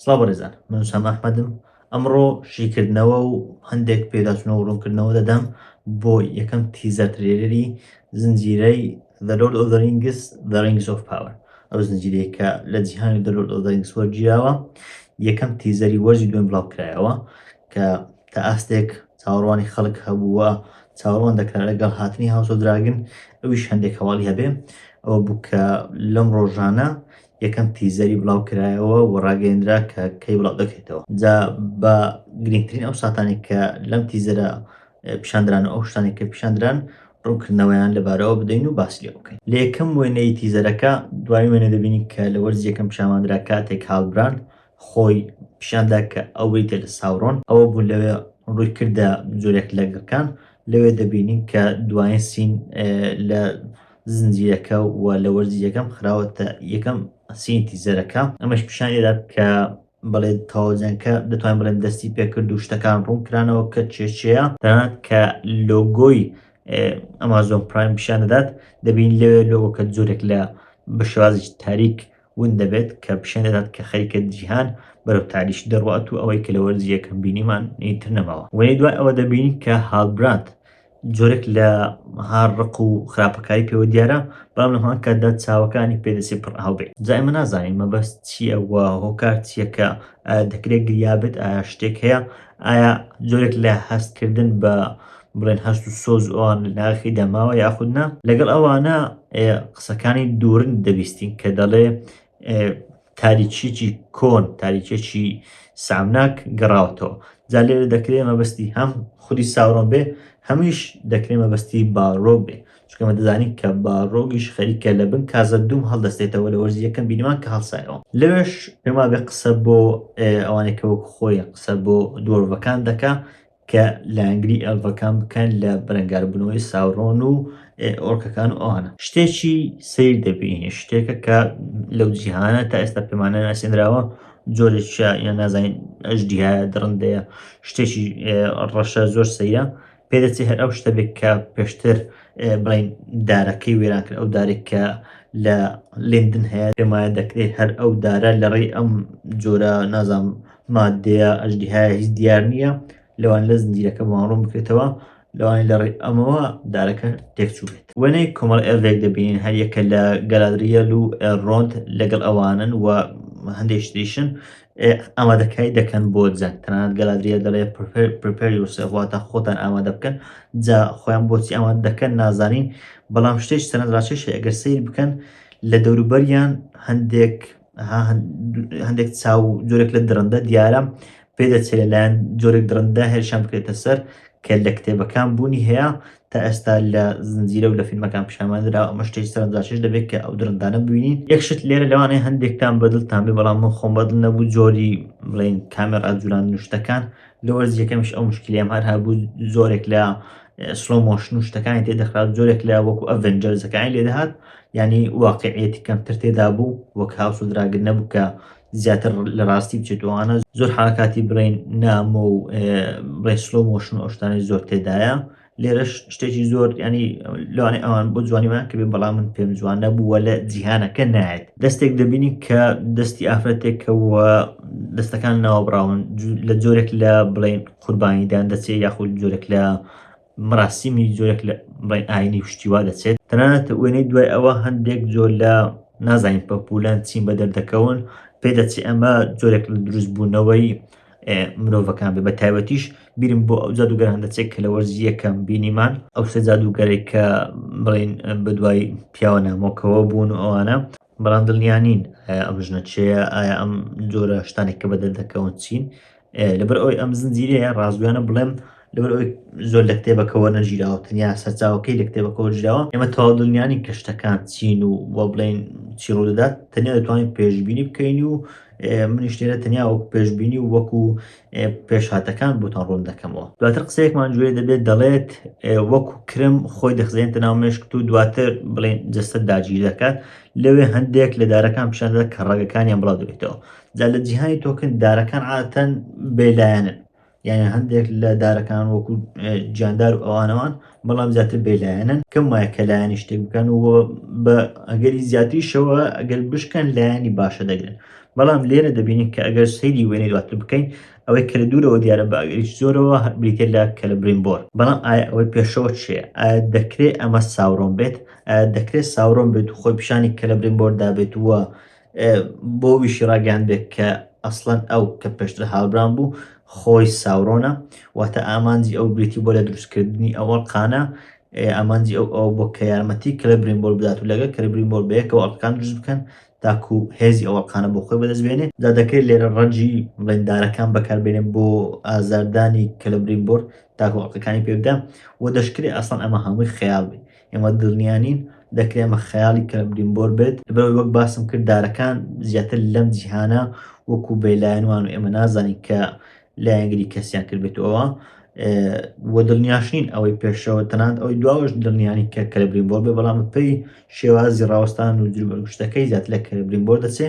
سڵاو بەڕێزان من سام ئەحمەدم ئەمڕۆ شیکردنەوە و هەندێک پێداچنەوە ڕوونکردنەوە دەدەم بۆ یەکەم تیزەر ترێلەری زنجیرەی The Lord of the Rings The Rings of Power ئەو زنجیرەیە کە لە جیهانی The Lord of the Rings وەرگیراوە یەکەم تیزەری وەرزی دوێن بڵاوکرایەوە کە تا ئاستێک چاوەڕوانی خەڵک هەبوو و چاوەڕوان دەکرا لەگەڵ هاتنی هاوس ئۆف دراگن ئەویش هەندێک هەواڵی هەبێ ئەوە بوو کە لەم ڕۆژانە یەکەم تیزەری بڵاو کرایەوە و ڕاگەیەندرا کە کەی بڵاو دەکرێتەوە جا بە گرنگترین ئەو ساتانی کە لەم تیزەرە پیشاندران و ئەو شتانی کە پیشاندران ڕوونکردنەوەیان لەبارەوە بدەین و باس لێ بکەین لە یەکەم وێنەی تیزەرەکە دوای وێنە دەبینین کە لە وەرزی یەکەم پیشانماندرا کاتێک هاڵبراند خۆی پیشان دا کە ئەو بریتیە لە ساورۆن، ئەوە بوو لەوێ ڕووی کردە جۆرێک لە گڕکان، لەوێ دەبینین کە دوایین سین لە زنجیرەکە و لە وەرزی یەکەم خراوەتە یەکەم سینی تیزەرەکە، ئەمەش پیشان ئەدات کە بەڵێ تەواو جەنگەکە دەتوانین بڵێن دەستی پێ کرد و شتەکان ڕوون کرانەوە کە چێ چێیە، تەنانەت کە لۆگۆی ئەمازۆن پرایم پیشان دەدات دەبینین لەوێ لۆگۆکە جۆرێک لە بە شێوازێکی تاریک ون دەبێت کە پیشان دەدات کە خەریکە جیهان بەرەو تاریکی دەڕوات و ئەوەی کە لە وەرزی یەکەم بینیمان ئیتر نەماوە وەی دوای ئەوە دەبینین کە هالبراند جۆرێک لە هار ڕق و خراپەکاری پێوە دیارە بەڵام لە هەمان کاتدا چاوەکانی پێدەسێ پڕ ئاو بێت جا ئێمە نازانین مەبەست چییە و هۆکار چییە کە ئایا دەکرێت گریا بێت ئایا شتێک هەیە ئایا جۆرێک لە هەستکردن بە بڵێن هەست و سۆز ئەوان لەناخی دەماوە یاخود نا لەگەڵ ئەوانە قسەکانی دوورن دەبیستین کە دەڵێ تاریچیی کۆن تاریچێکی سامناک گەڕاوتەوە جا لێرە دەکرێ مەبەستی هەم خودی ساورۆن بێ هەمیش دەکرێ مەبەستی باڕۆک بێ چکەمە دەزانین کە باڕۆگیش خەریکە لە بن کازە دوم هەڵدەستێتەوە لە وەرزی یەکەم بینمان کە هەڵسایەوە لەوێش پێما بێ قسە بۆ ئەوانێکەوە خۆی قسە بۆ دۆرڤەکان دەکا کە لایەنگری ئێڵڤەکان بکەن لە بەرەنگاربوونەوەی ساورۆن و ئۆرکەکان و ئەوانە شتێکی سیر دەبینی شتێکە کە لەو جیهانە تا ئێستا پێمانە ناسێنراوە جۆرێکە یان نازانین ئەژدیە دڕندەیە شتێکی ڕەشە زۆر سەیرە پێدەچێت هەر ئەو شتە بێت کە پێشتر بڵین دارەکەی وێران کرد ئەو دارێک کە لە لندن هەیە پێمایە دەکرێت هەر ئەو دارە لەڕێی ئەم جۆرە نازانم مادەیە ئەژدیهایە هیچ دیار نییە لەوان لە زنجیرەکە ماڕوون بکرێتەوە لەوانی لە ڕێ ئەمەوە دارەکە تێکچوو بێت وێنەی کۆمەڵ ئێرێک دەبینین هەر یەکە لە گەلادریەل و ئێرۆنت لەگەڵ ئەوانن و هەندێک شتیشن ئامادەکاری دەکەن بۆ جەنگ تەنانەت گەلادریە دەڵێ پرپریوسەواتە خۆتان ئامادە بکەن جا خۆیان بۆچی ئامادە دەکەن نازانین بەڵام شتێک سەرنجڕاکێشە ئەگەر سیر بکەن لە دەوروبەریان هەندێک هەندێک چاو جۆرێک لە درندە دیارە پێدەچێت لەلایەن جۆرێک درندە هێرشان بکرێتە سەر کە لە کتێبەکان بوونی هەیە تا ئێستا لە زنجیرە و لە فیلمەکان پیشامانرا ئەمە شتێک سەرنجاشش دەبێت کە ئەو درندانە بووین یەکشت لێرە لەوانەیە هەندێکتان بەدڵتان بێ بەڵام من خۆم بەدڵ نەبوو جۆری بڵین کامێرا جولان نوشتەکان لە وەرزی یەکەمیش ئەو مشکلیام هەر هەبوو زۆرێک لە سلۆ مۆشن و شتەکانی تێدەخرات زۆرێک لە وەکو ئەڤنجەرزەکانی لێدەهات ینی واقعێتی کەمتر تێدا بوو وەک هاوس و دراگر نەبوو کە زیاتر لە ڕاستی بچێتوانە زۆر حرکاتی برین نامۆ و ڕێسلۆ مۆشن ئەوشتانی زۆر تێدایە لێرەش شتێکی زۆر ینی لەوانێ ئەوان بۆ جوانیمان کە بێن بەڵام من پێم جوانە بووە لە جیهانەکە نایەت دەستێک دەبینی کە دەستی ئافرەتێکەوە دەستەکان ناوەبراون لە جۆرێک لە بڵین قوربانیدان دەچێت یاخود جۆرێک لە مراستیمی جۆرێک لە بڵین ئاینی پشتیوا دەچێت تەنانەت وێنەی دوای ئەوە هەندێک جۆر لە نازانین پەپولان چین بە دەردەکەون پێدەچێت ئەمە جۆرێک لە دروستبوونەوەی مرۆڤەکان بێ بە تایبەتیش بیرم بۆ ئەو جادوگەران دەچێت کە لە وەرزی یەکەم بینیمان ئەو سێ جادوگەرێک کە بڵین بە دوای پیاوە نامۆکەوە بوون و ئەوانە بەڵام دڵنیانین ئەم ژنە چێە ئایا ئەم جۆرە شتانێک کە بەدەر دەکەون چین لەبەر ئەوی ئەم زنجیرەیە ڕازگویانە بڵێم لەبەر ئەوی زۆر لە کتێبەکەەوە نەژیراوە تەنیا سەرچاوەکەی لە کتێبەکەەوە ژراوە ئێمە تەواو دڵنیانی کەشتەکان چین و وە بڵین چیڕۆ دەدات تەنیا دەتوانین پێشببینی بکەین و منیش لێرە تەنیا وەکو پێشبینی و وەکو پێشهاتەکان بۆتان ڕوون دەکەمەوە دواتر قسەیەکمان گوێ دەبێت دەڵێت وەکو کرم خۆی دەخزێنتە ناو مێشکت و دواتر بڵێن جەستە داگیر دەکات لەوێ هەندێک لە دارەکان پیشان دەدات کە ڕەگەکانیان بڵاو دەبێتەوە جا لە جیهانی تۆکن دارەکان عادەتەن بێلایەنن یانە هەندێک لە دارەکان وەکو جاندار و ئەوانەوان بەڵام زیاتر بێلایەنن کەم وایە کە لایەنی شتێک بکەن و بە ئەگەری زیاتریشەوە ئەگەر بشکەن لایەنی باشە دەگرن بەڵام لێرە دەبینین کە ئەگەر سەیری وێنەی دواتر بکەین ئەوەی کە لە دوورەوە دیارە بە ئەگەریش زۆرەوە بریتێ لە کە لە برینبۆر بەڵام ئایا ئەوەی پێشەوە چێ ئایا دەکرێت ئەمە ساورۆم بێت ئایا دەکرێت ساورۆم بێت و خۆی پیشانی کە لە برینبۆردا بێت وە بۆ ویشی ڕاگەیاندبێت کە ئەسڵەن ئەو کە پێشتر هاوبران بوو خۆی ساورۆنە واتە ئامانجی ئەو بریتی بۆ لە دروستکردنی ئەو ئەڵقانە ئامانجی ئەو ئەو بۆ کە یارمەتی کلە برینبۆل بدات و لەگە کلە برینبۆل بەیەکەوە ئەڵقان دروست بکەن تاکو هێزی ئەو ئەڵقانە بۆ خۆی بەدەست بێنێ دا دەکرێت لێرە ڕەنجی ڕێندارەکان بەکاربێنێن بۆ ئازاردانی کلە برینبۆر تاکو ئەڵقەکانی پێ بدەن و دەشکرێت ئەسڵەن ئەمە هەمووی خەیاڵ بێت ئێمە دڵنیا نین دەکرێ ئەمە خەیاڵی کەلمبریمبۆر بێت، لەبەرئەوەی وەک باسم کرد دارەکان زیاتر لەم جیهانە وەکو بێلایەن وان و ئێمە نازانین کە لایەنگری کەسیان کردبێتەوە و دڵنیاش نین ئەوەی پێشەوە تەنانەت ئەوەی دواوەش دڵنیا نین کە کەلبریمبۆر بێ بەڵام بەپێی شێوازی ڕاوەستان و جلوبەرگشتەکەی زیاتر لە کەلبریمبۆر دەچێ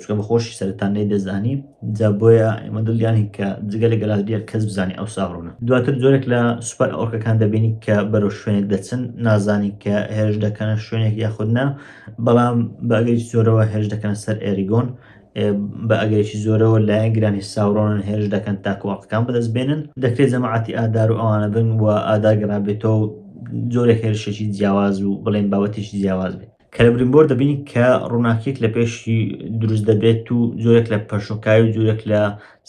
چونکە بە خۆشی سەرتان نەی دەزانی جا بۆیە ئێمە دڵیانی کە جگە لە گەلادریە کەس بزانانی ئەو ساڕوونە دواتر جۆرێک لە سوپەر ئۆرکەکان دەبینی کە بەرەو شوێنێک دەچن نازانی کە هێرش دەکەنە شوێنێک یاخودنا بەڵام بەگەیش زۆرەوە هێرش دەکەنە سەر ئێریگۆن بە ئەگەرێکی زۆرەوە لایەنگرانی ساورۆنن هێرش دەکەن تاکوواقەکان بەدەست بێنن دەکرێت جەماعەتی ئادار و ئەوانە بن و ئاداگەڕابێتەوە جۆرە هێرشێکی جیاواز و بڵێن بابەتێکی جیاواز بێت کە لە برینبۆر دەبینین کە ڕووناکیەک لە پێشی دروست دەبێت و زۆرێک لە پەرشۆکاوی و زۆرێک لە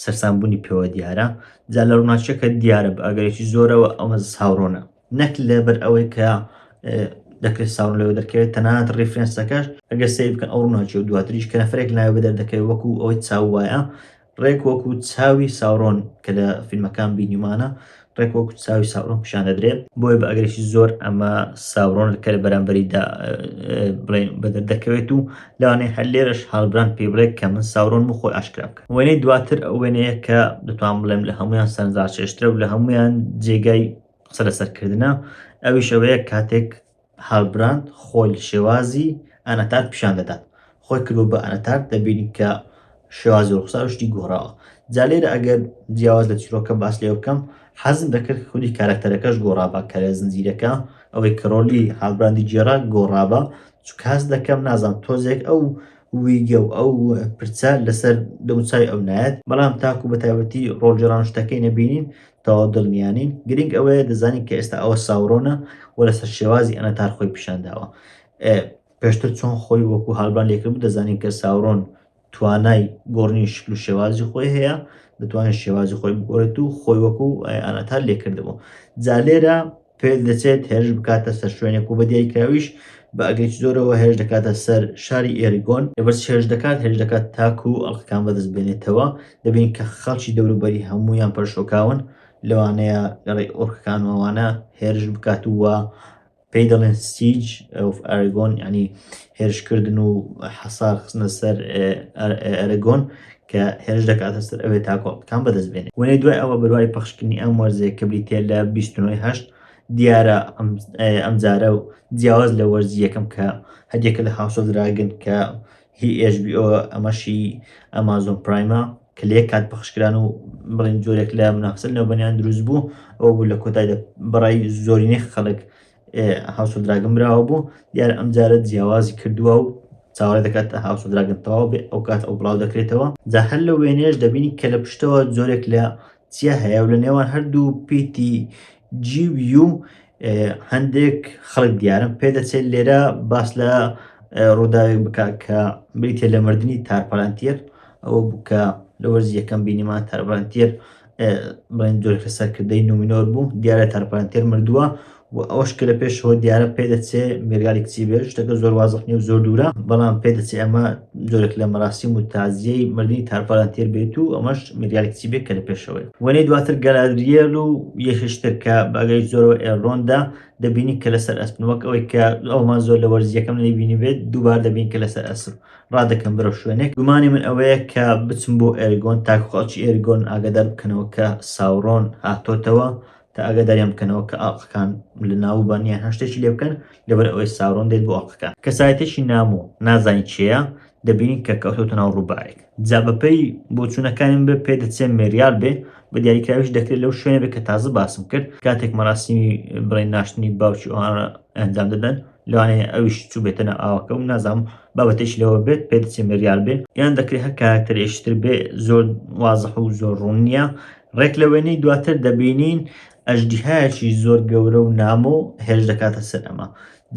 سەرسانبوونی پێوە دیارە جا لە ڕووناچەکە دیارە بە ئەگەرێکی زۆرەوە ئەمە ساورۆنە نەک لەبەر ئەوەی کە دەکرێت ساون لەوە دەکەوێت تەنانەت ڕیفرەنسەکەش ئەگەر سەیر بکەن ئەو ڕووناچی و دواتریش کە نەفرێک ناوێ بە دەردەکەوێت وەکو ئەوەی چاو وایە ڕێک وەکو چاوی ساورۆن کە لە فیلمەکان بینیومانە ڕێک وەکو چاوی ساورۆن پیشان دەدرێت بۆیە بە ئەگرێکی زۆر ئەمە ساورۆن کە لە بەرامبەریدا بڵێن بەدەر دەکەوێت و لەوانەیە هەر لێرەش هاڵبران پێی بڵێت کە من ساورۆن و خۆی ئاشکرا بکە وێنەی دواتر ئەو وێنەیە کە دەتوان بڵێم لە هەمویان سەرنجڕاکێشترە و لە هەمویان جێگای قسە لەسەرکردە ئەویش ئەوەیە کاتێک هالبراند خۆی شێوازی ئاناتارد پیشان دەدات خۆی کردوە بە ئاناتارد دەبینین کە شێوازی ڕوخسار شتی گۆڕاوە جا لێرە ئەگەر جیاواز لە چیرۆکە باس لێ بکەم حەزم دەکرد کە خودی کارەکتەرەکەش گۆڕابا کە لە زنجیرەکە ئەوەی کە ڕۆلی هالبراندی گێڕا گۆڕابا چونکە هەست دەکەم نازانم تۆزێک ئەو ویگە و ئەو پرچە لەسەر دەموچاوی ئەو نایەت بەڵام تاکو بە تایبەتی ڕۆڵگێڕان شتەکەی نەبینین تەواو دڵنیا نین، گرنگ ئەوەیە دەزانین کە ئێستا ئەوە ساورۆنە و لەسەر شێوازی ئەنەتار خۆی پیشان داوە. پێشتر چۆن خۆی وەکو هالبران لێکردبوو دەزانین کە ساورۆن توانای گۆڕنی شکل و شێوازی خۆی هەیە دەتوانێت شێوازی خۆی بگۆڕێت و خۆی وەکو ئەنەتار لێکردبوو جا لێرە پێ دەچێت هێرش بکاتە سەر شوێنێک و بە دیاریکراویش بە ئەگەرێکی زۆرەوە هێرش دەکاتە سەر شاری ئێریگۆن، لەبەرچی هێرش دەکات هێرش دەکات تاکو ئەڵقەکان بەدەست بێنێتەوە، دەبینین کە خەڵکی دەوروبەری هەموویان پەرشۆکاون لەوانەیە لەڕێی ئۆرکەکان و ئەوانە هێرش بکات و پێی دەڵێن سیج ئۆف ئاریگۆن یانی هێرشکردن و حەسار خستنە سەر ئەرەگۆن کە هێرش دەکاتە سەر ئەوێ تا کۆڵەکان بەدەست بێنێت وەێ دوای ئەوە بەروای پەخشکردنی ئەم وەرزێک کە بریتە لە 29 دیارە ئەمجارە و جیاواز لە وەرزی یەکەم کە هەریەکە لە هاوسۆ دراگن کە هی HBO ئەمەشی ئەمازۆن پرایمە کە لە یەک کات پەخشکران و بڵین جۆرێک لە منافسە لەوبەنیان دروست بوو ئەو بوو لە کۆتایدا بەڕای زۆرینەی خەڵک ئێ هاوس ئۆف دراگن براوە بۆ؟ دیارە ئەمجارە جیاوازی کردووە و چاوەڕێ دەکات هاوس ئۆف دراگن تەواو بێ ئەو کات ئەو بڵاو دەکرێتەوە جا هەر لە وێنەیەش دەبینی کە لە پشتەوە جۆرێک لە چیا هەیە و لە نێوان هەردوو پیتی جی و یو هەندێک خەڵک دیارن پێدەچێت لێرە باس لە ڕووداوێک بک کە بریتە لە مردنی تارپەلانتیەر ئەوە بوو کە لە وەرزی یەکەم بینیمان تارپەلانتیەر بڵێن جۆرەکە سەرکردەی نومینۆر بوو دیارە تارپانتێر مردووە و ئەوش کە لە پێشەوە دیارە پێ دەچێ مێرگالی کچی بێت شتەکە زۆر وازخ نیە و زۆر دوورە بەڵام پێ دەچێ ئەمە جۆرێک لە مەراسیم و تازیەی مردنی تارپارانتێر بێت و ئەمەش مێرگالی کچی بێت کە لە پێشەوەی وەنەی دواتر گەلادریێل و یەکشتر کە بەگەی زۆرەوە ئێڕۆندا دەبینی کە لەسەر ئەسپن وەک ئەوەی کە ئەومان زۆر لە وەرزیەکەم نەیبینی بێت دووبار دەبین کە لەسەر ئەسپ ڕادەکەم بەرەو شوێنێک گومانی من ئەوەیە کە بچم بۆ ئێرگۆن تاکو خەڵکی ئێرگۆن ئاگادار بکەنەوە کە ساوڕۆن هاتۆتەوە تا ئاگاداریان بکەنەوە کە ئاڵقەکان لە ناوبان یان هەر شتێکی لێ بکەن لەبەر ئەوەی ساوڕۆن دێت بۆ ئاڵقەکان کەسایەتێکی نامۆ نازانی چێە دەبینین کە کەوتۆتە ناو ڕووبارێک جا بەپەی بۆچوونەکانیم بێ پێ دەچێ مێریال بێ بە دیاریکراویش دەکرێت لەو شوێنە بێ کە تازە باسم کرد کاتێک مەراسیمی بڵێ ناشتنی باوکی ئەوانە ئەنجام دەدەن لەوانەیە ئەویش چوبێتە ناو ئاوەکە و نازام بابەتێکی لەوە بێت پێ دەچێ مریال بێ یان دەکرێت هەر کارکتەرێکی تر بێ زۆر وازح و زۆر ڕوون نییە ڕێک لە وێنەی دواتر دەبینین ئەژدیهایەکی زۆر گەورە و نامۆ هێرش دەکاتە سەر ئەمە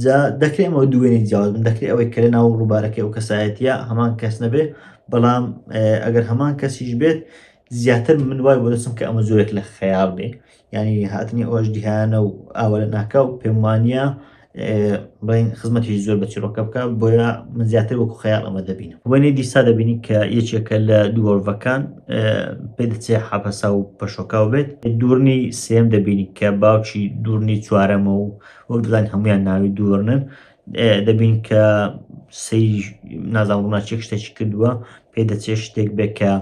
جا دەکرێت ئەمە دوێنی جیاواز بن دەکرێت ئەوەی کە لە ناو ڕووبارەکەی ئەو کەسایەتە هەمان کەس نەبێ بەڵام ئەگەر هەمان کەسیش بێت زیاتر من وای بۆ دەچم کە ئەمە زۆرێک لە خەیاڵ بێ یعنی هاتنی ئەوەش دیهانە و ئاوە لە ناکاو پێم وانە بڵین خزمەتی زۆر بە چیرۆکە بکە بۆیە من زیاتر وەکو خەیاڵ ئەمە دەبینم وەێ دیسا دەبینی کە یەکێکە لە دووەڵڤەکان پێ دەچێ حەپەسا و پەشۆکاو بێت دوورنی سێم دەبینی کە باوکی دوورنی چوارەمە و وەک دەزان هەمویان ناوی دوورنن دەبین کە سی نازان ڕووناچێک شتێکی کردووە پێ دەچێت شتێک بێکە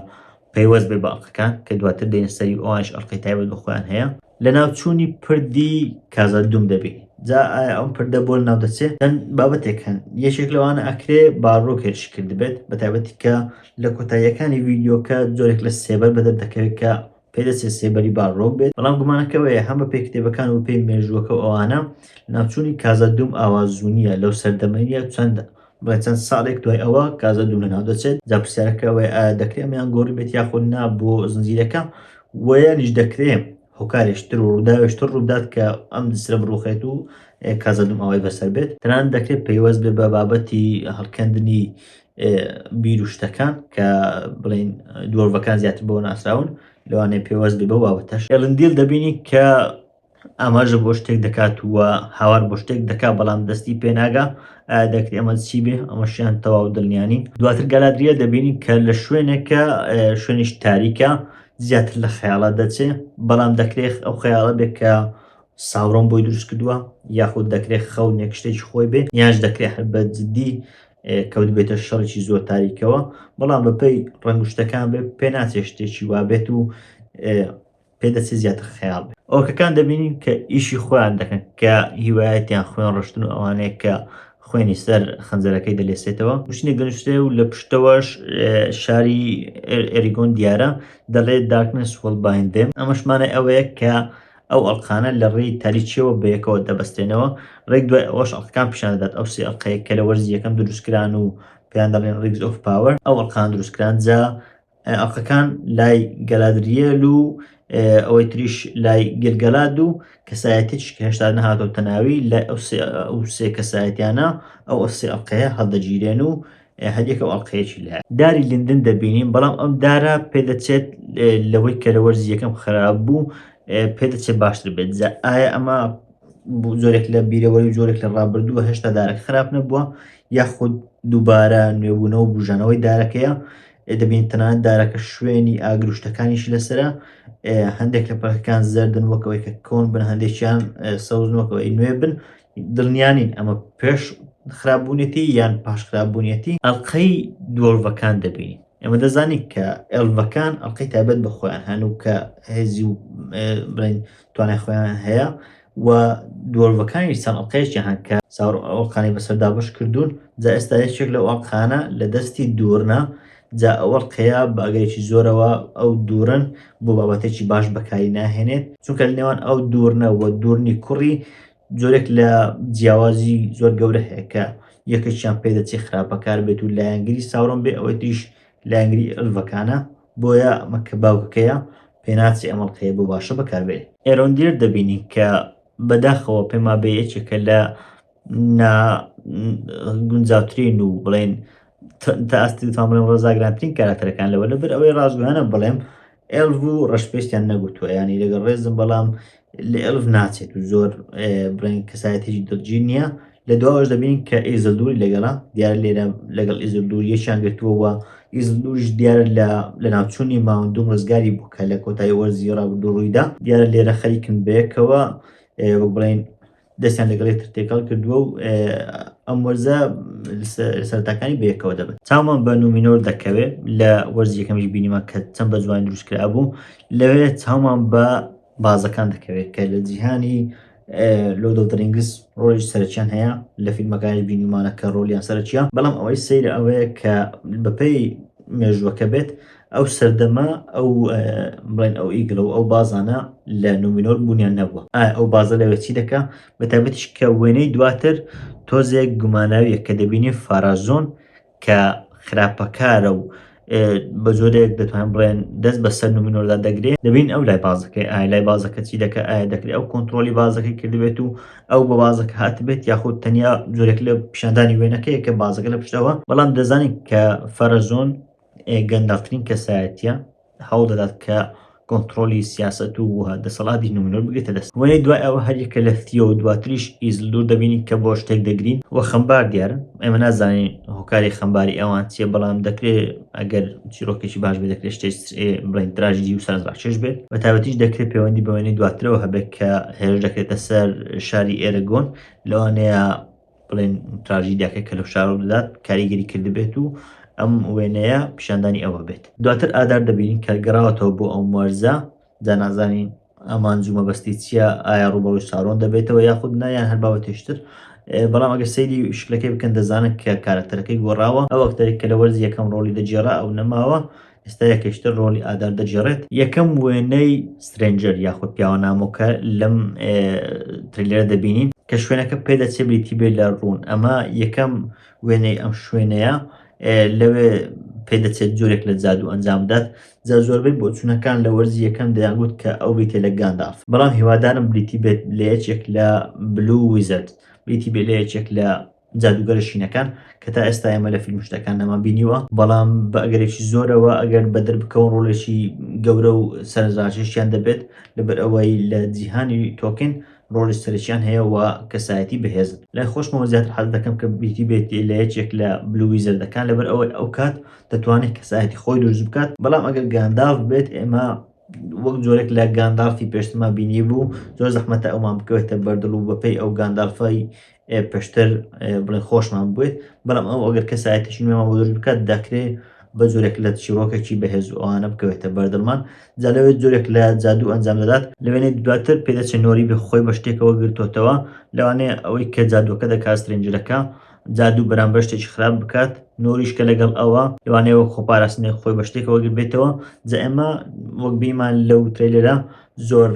پەیوەست بێت بە ئەڵقەکان کە دواتر دێنە سەری و ئەوانیش ئەڵقەی تایبەت بە خۆیان هەیە. لەناوچوونی پردی کازادوم دەبێ جا ئایا ئەم پردە بۆ لەناو دەچێت چەند بابەتێک هەن یەکێک لەوانە ئەکرێ باڕۆک هێرشی کردبێت بە تایبەتی کە لە کۆتاییەکانی ڤیدیۆکە جۆرێک لە سێبەر بەدەر دەکەوێت کە پێدەچێت سێبەری باڕۆک بێت بەڵام گومانەکە وەیە هەم بە پێی کتێبەکان و پێی مێژووەکە و ئەوانە لەناوچوونی کازادوم ئاوازوو نییە لەو سەردەمە نییە چەند دوای چەند ساڵێک دوای ئەوە کازە دوو لەناو دەچێت جا پرسیارەکە وێ ئایا دەکرێت ئەمیان گۆڕی بێت یاخود نا بۆ زنجیرەکە وەیانیش دەکرێ هۆکارێشتر و ڕووداوێشتر ڕوودات کە ئەم دسرە بڕوخێت و کازە دوم ئەوەی بەسەر بێت تەنان دەکرێت پەیوەست بێ بە بابەتی هەڵکەندنی بیر و شتەکان کە بڵین دووەڤەکان زیاتر بۆ ناسراون لەوانەیە پێوەست بێ بەو بابەتەش ئێلندیل دەبینی کە ئاماژە بۆ شتێک دەکات و هاوار بۆ شتێک دەکا بەڵام دەستی پێناگا دەکرێت ئەمە چی بێ ئەمەشیان تەواو دڵنیانی دواتر گالادریە دەبینی کە لە شوێنێکە شوێنیش تاریکە زیاتر لە خەیاڵە دەچێ بەڵام دەکرێت ئەو خەیاڵە بێت کە ساوڕۆم بۆی دروست کردووە یاخود دەکرێت خەو نێکشتێکی خۆی بێ یاش دەکرێت هەر بە جددی کەوت بێتە شەڕێکی زۆر تاریکەوە بەڵام بەپەی ڕەنگشتەکان بێ پێ ناچێ شتێکی وابێت و پێدەچێت زیاتر خەیاڵ بێت. ئۆکەکان دەبینین کە ئیشی خۆیان دەکەن کە هیوایەتیان خوێن ڕشتن و ئەوانەیە کە خوێنی سەر خەنجەرەکەی دەلێسێتەوە شتێک دەنووسێ و لە پشتەوەش شاری ئەریگۆن دیارە دەڵێت داکنس وڵبایندێم ئەمەشمانە ئەوەیە کە ئەو ئەڵقانە لە ڕێی تاریچیەوە بەیەکەوە دەبەستێنەوە ڕێک دوای ئەوەش ئەڵقان پیشان دەدات ئەو سێ ئەڵقەیە کە لە وەرزی یەکەم دروستکران و پێیان دەڵێن ڕیگز ئۆف پاوەر ئەو ئەڵقان دروستکران جا ئەڵقەکان لای گەلادریێل و ئەوەی تریش لای گلگەلاد و کەسایەتیش کە هێشتا نەهاتۆ تەناوی لە ئەو سێ کەسایەتیانە ئەو ئەفسی ئەڵلقەیە هەڵدەگیرێن و هەریەکە ئەڵلقەیەکی لە داری لندن دەبینین بەڵام ئەم دارە پێدەچێت لەوەی کە لە وەرزی یەکەم خراپ بوو پێدەچێت باشتر بێت جا ئایا ئەمە زۆرێک لە بیرەوەی و زۆرێک لە ڕابردووە هێشتا دارە خراپ نەبووە یاخود دووبارە نوێبوونەوە بژانەوەی دارەکەیە دەبینین تەنانەت دارەکە شوێنی ئاگر و شتەکانیشی لەسرە هەندێک لە پەکەکان زەردن وەکەوەی کە کۆن بن هەندێکیان سەوز وەکەوەی نوێ بن دڵنیانین ئەمە پێش خراپبوونێتی یان پاش خراپبوونیەتی ئەلقەی دۆڵڤەکان دەبینین ئەمە دەزانین کە ئەلڤەکان ئەلقەی تابەت بە خۆیان هەن و کە هێزی و بڵین توانای خۆیان هەیە و دۆلڤەکانیش چەند ئەڵقەیەکی هەن کە چاور ئەو ئەڵقانەی بەسەر دابەش کردوون جا ئێستا یەکێک لەو ئەڵقانە لە دەستی دوورنە جا ئەو ئەڵقەیە بە ئەگەرێکی زۆرەوە ئەو دوورن بۆ بابەتێکی باش بەکاری ناهێنێت چونکە لە نێوان ئەو دوورنە و دوورنی کوڕی جۆرێک لە جیاوازی زۆر گەورە هەیە کە یەکێکیان پێدەچێت خراپەکار بێت و لایەنگری ساورۆن بێ ئەوەی تریش لایەنگری ئەلڤەکانە بۆیە ئەمە کە باوکەکەیە پێناچێ ئەم ئەڵقەیە بۆ باشە بەکاربێ. ئێرۆندیر دەبینین کە بەداخەوە پێمابێ یەکێکە لە نا گونجاوترین و بڵێن تا ئاستی تام بڵێم ڕزاگرانترین کاراکتەرەکان لەوە لەبەر ئەوەی ڕازگویانە بڵێم ئێڵڤ و ڕەشپێشتیان نەگوتووە ینی لەگەڵ ڕێزم بەڵام لە ئێلف ناچێت و زۆر برنگ کەسایەتێکی دڵگیر نییە لە دواوەش دەبین کە ئیزلدوری لەگەڵە دیار لێرە لەگەڵ ئیزلدور یەکیان گرتووەوە ئیزلدوریش دیار لە لە ناوچوونی ماوەندوم ڕزگاری بوو کە لە کۆتایی وەرزی ڕابردوو ڕوویدا دیارە لێرە خەریکن بەیەکەوە وەک بڵین دەستیان لەگەڵ یەکتر تێکەڵ کردووە و ئەم وەرزە سەرتاکانی بەیەکەوە دەبن چاومان بە نومینۆر دەکەوێت لە وەرزی یەکەمیش بینیمە کە چەند بە جوان دروست کرا بوو لەوێ چاومان بە بازەکان دەکەوێت کە لە جیهانی لۆ دڵترینگس ڕۆژ سەرچیان هەیە لە فیلمەکانی بینیمانە کە ڕۆلیان سەرچیە بەڵام ئەوەی سیر ئەوەیە کە بەپێی مێژوەکە بێت ئەو سەردەمە ئەو بڵێن ئەو ئیگڵە و ئەو بازانە لە نومینۆر بوونیان نەبووە ئایا ئەو بازە لەوێ چی دەکا بە تابەتیش کە وێنەی دواتر تۆزێک گوماناویە کە دەبینی فارازۆن کە خراپەکارە و بە زۆرێک دەتوان بڵێن دەست بە سەر نومینۆردا دەگرێت دەبین ئەو لای بازەکەی ئایا لای بازەکە چی دەکە ئایا دەکرێت ئەو کۆنتترۆلی بازەکەی کردبێت و ئەو بە بازەکە هاتبێت یاخود تەنیا زۆرێک لە پیشاندانی وێنەکەی کە بازەکە لە پشتەوە بەڵام دەزانین کە فەرەزۆن گەندەڵترین کەسایەتیە هەوڵ دەدات کە کۆنتترۆلی سیاست و دەسەڵاتی نومنۆر بگێتە دەست وەێ دوای ئەوە هەریەکە لە ثیۆ و دواتریش ئیزل دوور دەبینین کە بۆ شتێک دەگرین و خەمبار دیارن ئێمە نازانین هۆکاری خەمباری ئەوان چیە بەڵام دەکرێت ئەگەر چیرۆکێکی باش بێت دەکرێت شتێک بڵین تراژدی و سەرڕاکێش بێت بە تاوەتیش دەکرێت پەیوەندی بەوێنی دواترەوە هەبێت کە هێرش دەکرێتە سەر شاری ئێرەگۆن لەوانەیە بڵێن تراژیدیاکە کە لەو شارۆ دەدات کاریگەری کردبێت و ئەم وێنەیە پیشاندانی ئەوە بێت دواتر ئادار دەبین کە گەڕاوەتەوە بۆ ئەو مەرزە دا نازانین ئەمان جومە بەستی چییە ئایا ڕوبەڕوی سارۆن دەبێتەوە یاخود نایان هەر باوەتێشتر بەڵام ئەگەر سەیری شکلەکەی بکەن دەزانن کە کارەکتەرەکەی گۆڕاوە ئەو ئەکتەرێک کە لە وەرز یەکەم ڕۆلی دەگێڕا ئەو نەماوە ئێستا یەکەیشتر ڕۆڵی ئادار دەگێڕێت یەکەم وێنەی سترێنجەر یاخود پیاوە نامۆکە لەم تریلەرە دەبینین کە شوێنەکە پێدەچێ بریتی بێت لە ڕوون ئەمە یەکەم وێنەی ئەم شوێنەیە لەوێ پێدەچێت جۆرێک لە جادو ئەنجام بدات جا زۆربەی بۆچوونەکان لە وەرزی یەکەم دەیانگوت کە ئەو بریتێ لە گانداف بەڵام هیوادارم بریتی بێت لە یەکێک لە بلو ویزرد بریتی بێ لە یەکێک لە جادووگەرە شینەکان کە تا ئێستا ئێمە لە فیلم شتەکان نەمان بینیوە بەڵام بە ئەگەرێکی زۆرەوە ئەگەر بەدر بکەون ڕۆلێکی گەورە و سەرنجڕاکێشیان دەبێت لەبەر ئەوەی لە جیهانی تۆکن ڕۆلی سەرچیان هەیە و کەسایەتی بەهێزن لای خۆشمەوە زیاتر حەز دەکەم کە بیتی بێت لە یەکێک لە بلووی زەردەکان لەبەر ئەوەی ئەو کات دەتوانێت کەسایەتی خۆی دروست بکات بەڵام ئەگەر گانداف بێت ئێمە وەک جۆرێک لە گاندالفی پێشتما بینی بوو زۆر زەحمەتە ئەومان بکەوێتە بەردڵ و بەپی ئەو گاندالفای ئێ پێشتر بڵێ خۆشمان بوێت بەڵام ئەو ئەگەر کەسایەتیشی نوێمان بۆ دروست بکات دەکرێ بە جۆرێک لە چیرۆکێکی بەهێز و ئەوانە بکەوێتە بەردڵمان جا لەوێ جۆرێک لە جادوو ئەنجام دەدات لەوێنێ دواتر پێدەچێ نۆری بێ خۆی بە شتێکەوە گرتۆتەوە لەوانەیە ئەوەی کە جادووەکە دەکات سترێنجەرەکە جادوو بەرامبەر شتێکی خراپ بکات نۆریش کە لەگەڵ ئەوە لەوانەیە وەک خۆپاراستنێک خۆی بە شتێکەوە گربێتەوە جا ئێمە وەک بیمان لەو ترەیلەرە زۆر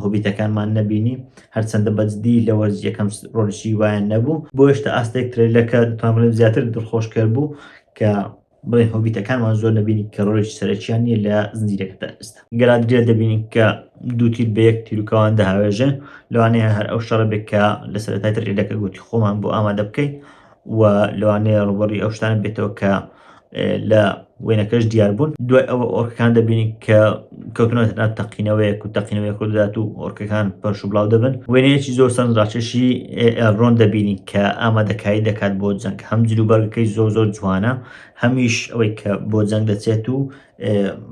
هۆبیتەکانمان نەبینی هەرچەندە بەجدی لە وەرز یەکەم ڕۆژی وایان نەبوو بۆ هێشتا ئاستێک ترلەکە دتانڵێن زیاتر دڵخۆشکەر بوو کە بڵێ هۆبیتەکانمان زۆر نبینی کە ڕۆژ سەرەکییان نیە لە زنجیرەکەدا ئێستا گەلادرێ دەبینین کە دوو تیر بە یەک تیرروکەوان دەهاوێژێ لەوانەیە هەر ئەو شەڕە بێت کە لە سەرەتای ترلەکە گوتی خۆمان بۆ ئامادە بکەین و لەوانەیە ڕوبەڕوی ئەو شتانە بێتەوە کە لە وێنەکەش دیاربوون دوای ئەوە ئۆرکەکان دەبینین کە کەوتنەوە تەنات تەقینەوەیەک و تەقینەوەی خوددات و ئۆرکەکان پەرش و بڵاو دەبن وێنەیەکی زۆر سەند ڕاکێشی ئێڕۆن دەبینین کە ئامادەکاری دەکات بۆ جەنگ هەم جلوبەرگەکەی زۆر زۆر جوانە هەمیش ئەوەی کە بۆ جەنگ دەچێت و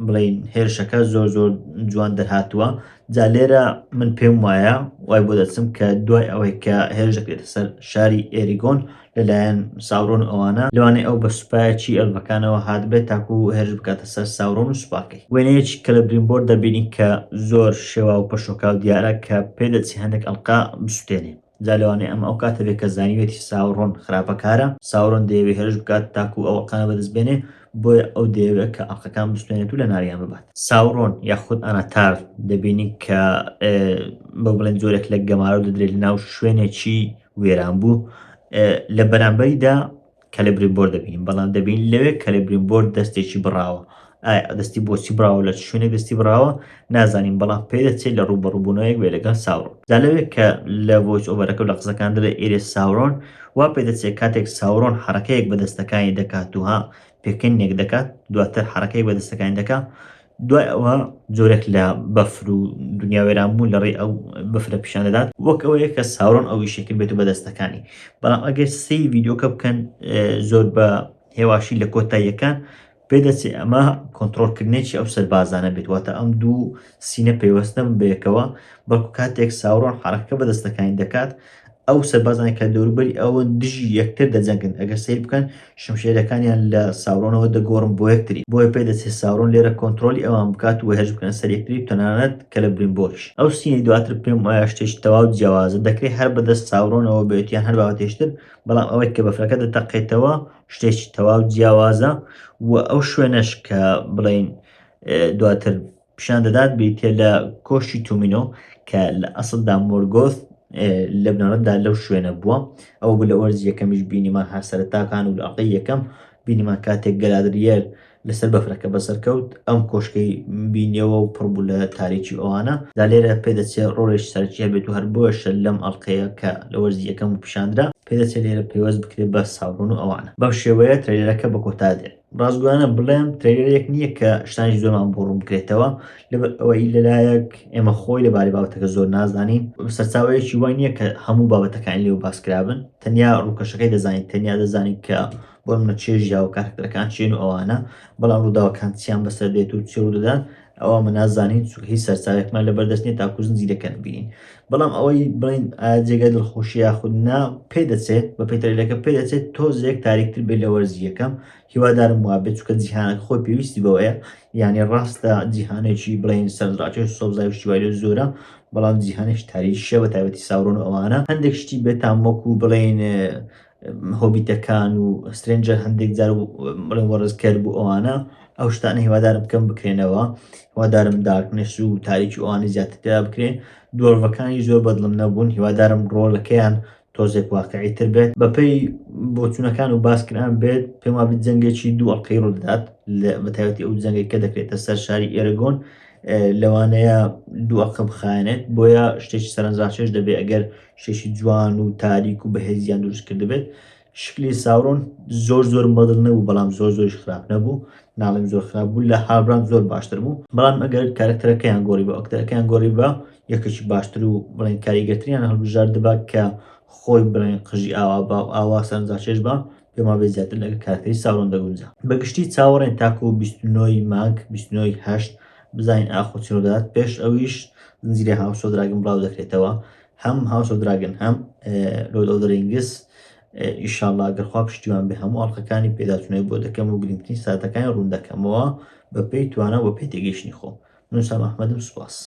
بڵین هێرشەکە زۆر زۆر جوان دەرهاتووە جا لێرە من پێم وایە وای بۆ دەچم کە دوای ئەوەی کە هێرش دەکرێتە سەر شاری ئێریگۆن لەلایەن ساورۆن ئەوانە لەوانەیە ئەو بە سوپایەکی ئەلفەکانەوە هاتبێت تاکو هێرش بکاتە سەر ساورۆن و سوپاکەی وێنەیەکی کەلەبریمبۆر دەبینین کە زۆر شێواو و پەشۆکاو دیارە کە پێدەچێ هەندێک ئەڵقە بسوتێنێ. جا لەوانەیە ئەمە ئەو کاتە بێت کە زانیوێتی ساورۆن خراپەکارە. ساورۆن دەیەوێت هێرش بکات تاکوو ئەو ئەڵقانە بەدەست بێنێ، بۆیە ئەو دەیەوێت کە ئەڵقەکان بستێنێت و لەناویان ببات. ساورۆن یاخود ئاناتار دەبینین کە با بڵێین جۆرێک لە گەمارۆ دەدرێت لەناو شوێنێکی وێرانبوو، لە بەرامبەریدا کەلبرین بۆر دەبینین بەڵام دەبین لەوێ کەلبرین بۆر دەستێکی بڕاوە دەستی بۆچی بڕاوە لە شوێنێک دەستی بڕاوە نازانین بەڵام پێ دەچێت لە ڕوبەڕوبوونەوەیەک بێ لەگەڵ ساورۆن دا لەوێت کە لە بۆچ ئۆبەرەکە لە قسەکان دەێ ئێرێ ساورۆن وا پێ دەچێت کاتێک ساورۆن حرەکەیەک بە دەستەکانی دەکات وها پێکەنێک دەکات دواتر حرەکەی بە دەستەکانی دەکات دوای ئەوە جۆرێک لە بەفر و دنیا وێرانبوون لە ڕێی ئەو بەفرە پیشان دەدات وەک ئەوەیە کە ساورۆن ئەو ئیشەکە بێت و بەدەستەکانی بەڵام ئەگەر سی ڤیددیوکە بکەن زۆر بە هێواشی لە کۆتاییەکان پێدەچێت ئەمە کۆنتترۆلکردنێکی ئەو سەربازانە بێت واتە ئەم دوو سینە پەیوەستن بەیەکەوە بەڵکو کاتێک ساورۆن حرەکە بە دەستەکانی دەکات ئەو سەربازانەی کە دەوروبەری ئەوەن دژی یەکتر دەجەنگن، ئەگەر سەیر بکەن شمشێرەکانیان لە ساورۆنەوە دەگۆڕن بۆ یەکتری، بۆیە پێدەچێت ساورۆن لێرە کۆنترۆڵی ئەوان بکات و هێرش بکەنە سەر یەکتری و تەنانەت کەلەبریمبۆریش. ئەو سینەی دواتر پێم وایە شتێکی تەواو جیاوازە، دەکرێت هەر بەدەست ساورۆنەوە بێت یان هەر بابەتێکتر، بەڵام ئەوەی کە بەفرەکە دەتەقێتەوە شتێکی تەواو جیاوازە و ئەو شوێنەش کە بڵێین دواتر پیشان دەدات بریتە لە کۆشی تومینۆ کە لە ئەسلدا مۆرگۆث لە بنەڕەتدا لەو شوێنە بووە ئەو بوو لە وەرز یەکەمیش بینیمان هەر سەرتاکان و لاقی یەکەم بینیمان کاتێک گەلادریەر لەسەر بەفرەکە بەسەرکەوت ئەم کۆشکەی بینیەوە و پڕبوو لە تاریکی ئەوانە دا لێرە پێدەچێ ڕۆڵێش سەرکیە بێت و هەر بۆشە لەم ئەڵلقەیە کە لە وەرزی یەکەم و پیشاندرا پێدەچێت لێرە پێوەست بکرێت بە ساڕۆن و ئەوانە بەم شێوەیە ترەیلەرەکە بە کۆتا دێت ڕاستگۆیانە بڵێم ترێلەرێک نییە کە شتانی زۆرمان بۆ ڕوون بکرێتەوە لەبەر ئەوەی لەلایەک ئێمە خۆی لەبارەی بابەتەکە زۆر نازانین سەرچاوەیەکی وای نییە کە هەموو بابەتەکان لێو باسکرابن تەنیا ڕووکەشەکەی دەزانین تەنیا دەزانین کە بۆ منە چێژ یاوە کارکتەرەکان چێن و ئەوانە بەڵام ڕووداوەکان چیان بەسەر دێت و چێ و دەدات ئەوا ئەمە نازانین چونکە هیچ سەرچاوێکمان لەبەر دەست نیە تاکو زنجیرەکە نبینین بەڵام ئەوەی بڵین ئایا جێگای دڵخۆشی یاخود نا پێ دەچێت بە پێتەرێلەکە پێ دەچێت تۆزێک تاریکتر بێت لە وەرزی یەکەم هیوادارم وابێت چونکە جیهانەکە خۆی پێویستی بەوەیە یعنی ڕاستە جیهانێکی بڵین سەرنجڕاکێ و سەوزای و شتیوای لێ زۆرە بەڵام جیهانێکی تاریکیشە بە تایبەتی ساورۆن و ئەوانە هەندێک شتی بێتام وەکو بڵین هۆبیتەکان و سترێنجەر هەندێک جار و بڵێن وەڕێزکەر بوو ئەوانە ئەو شتانە هیوادارم کەم بکرێنەوە هیوادارم دارکنش و تاریکی ئەوانی زیاتر پێدا بکرێن دۆرڤەکانی زۆر بەدڵم نەبوون هیوادارم ڕۆلەکەیان تۆزێک واقعی تر بێت بەپێی بۆچوونەکان و باسکران بێت پێم وابێت جەنگێکی دوو ئەڵقەی ڕوو دەدات بە تایبەتی ئەو جەنگێک کە دەکرێتە سەر شاری ئێرەگۆن لەوانەیە دوو ئەڵقە بخایەنێت بۆیە شتێکی سەرنجڕاکێش دەبێت ئەگەر شێشی جوان و تاریک و بەهێزیان دروست کردبێت شکلی ساورۆن زۆر زۆر مەدڵ نەبوو بەڵام زۆر زۆرش خراپ نەبوو ناڵێم زۆر خراپ بوو لە هابرام زۆر باشتر بوو بەڵام ئەگەر کارکتەرەکەیان گۆڕی بە ئەکتەرەکەیان گۆڕی بە یەکەکی باشتر و بڵێن کاریگەتریان هەڵبژاردبا کە خۆی بڵێن قژی ئاوا بە و ئاوا سەرنجاچێش بە پێ ماوەی زیاتر لەگەڵ کارکەری ساورۆن دەگونجا بە گشتی چاوەڕێن تاکو بیست و نۆی مانگ بیست و نۆی هەشت بزانین ئاخۆ چی ڕوودەدات پێش ئەویش زنجیرەی هاوس ئۆف دراگن بڵاو دەکرێتەوە هەم هاوس ئۆف دراگن هەم لۆرد ئۆف رینگس ئیشاڵا گەرخوا پشتیوان بێ هەموو ئەڵلقەکانی پێداچوونەوەی بۆ دەکەم و گرنگترین ساتەکانی ڕوون دەکەمەوە بەپێی توانا بۆ پێتێگەیشتنی خۆم من سام احمدم سوپاس.